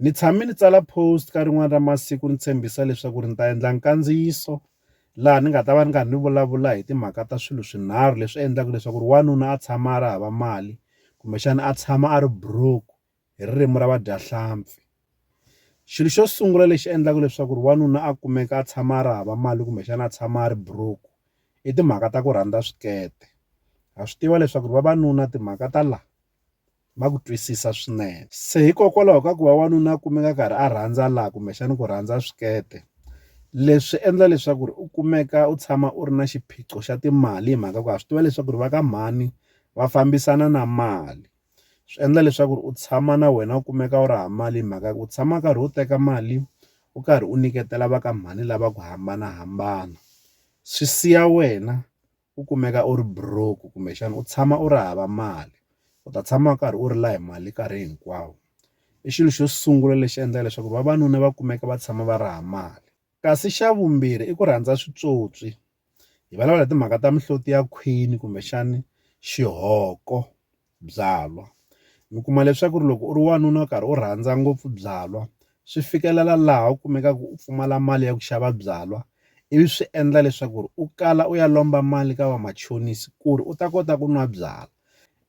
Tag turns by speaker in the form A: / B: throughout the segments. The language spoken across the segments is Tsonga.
A: Ni tshame ni tsala post ka rin'wana ra masiku ni tshembisa leswaku ri ni ta endla nkandziyiso laha ni nga ta va ni karhi ni vulavula hi timhaka ta swilo swinharhu leswi endlaka leswaku ri wanuna a tshama a ri hava mali kumbexana a tshama a ri broke hi ririmi ra vadyahlampfi. Xilo xo sungula lexi endlaka leswaku ri wanuna a kumeka a tshama a ri hava mali kumbexana a tshama a ri broke i timhaka ta ku rhandza swikete ha swi tiva leswaku ri vavanuna timhaka ta la. va ku twisisa swinene. Se hikokwalaho ka ku va wanuna a kumeka a karhi a rhandza laha kumbexana ku rhandza swikete, leswi endla leswaku ri u kumeka u tshama u ri na xiphiqo xa timali hi mhaka ku ha swi tiva leswaku ri va ka mhani va fambisana na mali. Swi endla leswaku u tshama na wena u kumeka u ri hava mali hi mhaka ya ku u tshama u karhi u teka mali u karhi u nyiketela va ka mhani lava ku hambanahambana swi siya wena. u kumeka u ri broke kumbexana u tshama u ri hava mali u ta tshama u karhi u rila hi mali nkarhi hinkwawo i xilo xo sungula lexi endlaka leswaku vavanuna va kumeka va tshama va ri ha mali kasi xa vumbirhi i ku rhandza switswotswi hi vulavula hi timhaka ta mihloti ya khwini kumbexani xihoko byalwa. Mi kuma leswaku ri loko u ri wanuna u karhi u rhandza ngopfu byalwa swi fikelela laha u kumekaka u pfumala mali ya ku xava byalwa ivi swi endla leswaku ri u kala u ya lomba mali ka vamachonisi ku ri u ta kota ku nwa byalwa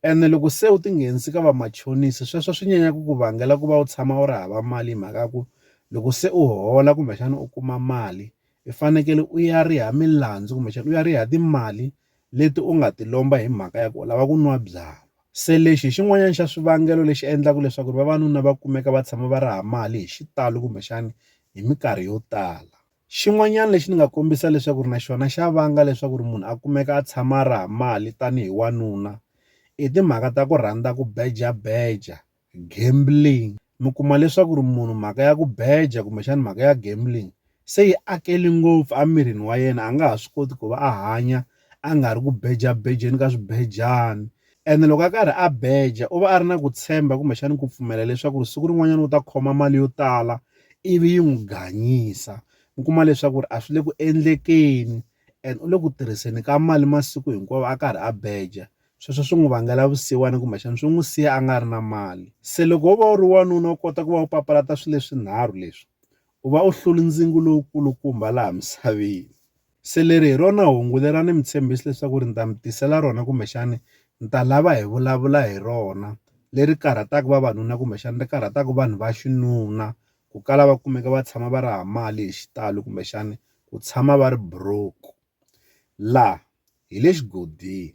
A: ene loko se u tinghenisa ka vamachonisi sweswo swi nyanya ku ku vangela ku va u tshama u ri hava mali hi mhaka ya ku loko se u hola kumbexana u kuma mali i fanekele u ya riha milandzu kumbexana u ya riha timali leti u nga ti lomba hi mhaka ya ku u lava ku nwa byalwa. Se lexi hi xin'wanyana xa swivangelo leswi endlaka leswaku vavanuna va kumeka va tshama va raha mali hi xitalo kumbexana hi minkarhi yo tala. Xin'wanyana lexi ni nga kombisa leswaku na xona xa vanga leswaku munhu a kumeka a tshama a raha mali tanihi wanuna i timhaka ta ku rhandza ku beja-beja Gambling mi kuma leswaku ri munhu mhaka ya ku beja kumbexana mhaka ya gambling se yi akele ngopfu emirini wa yena a nga ha swi koti ku va a hanya a nga ri ku bejabejeni ka swibejani ene loko a karhi a beja u va a ri na ku tshemba kumbexana ku pfumela leswaku ri siku rin'wanyana u ta khoma mali yo tala ivi yi n'wi gangisa u kuma leswaku ri a swi le ku endlekeni and u le ku tirhiseni ka mali masiku hinkwawo a karhi a beja Sweswo swi n'wi vangela vusiwana kumbexana swi n'wi siya a nga ri na mali. Se loko wo va u ri wanuna u kota ku va u papalata swilo leswinharhu leswi, u va u hlule ndzingu lowu kulukumba laha misaveni. Se leri hi rona hungu leri a ni mi tshembisi leswaku ni ta mi tisela rona kumbexana ni ta lava hi vulavula hi rona, leri karhataka vavanuna kumbexana ri karhataka vanhu va xinuna, ku kala va kumeka va tshama va ri hava mali hi xitalo kumbexana ku tshama va ri broke. Laha hi le xigodini.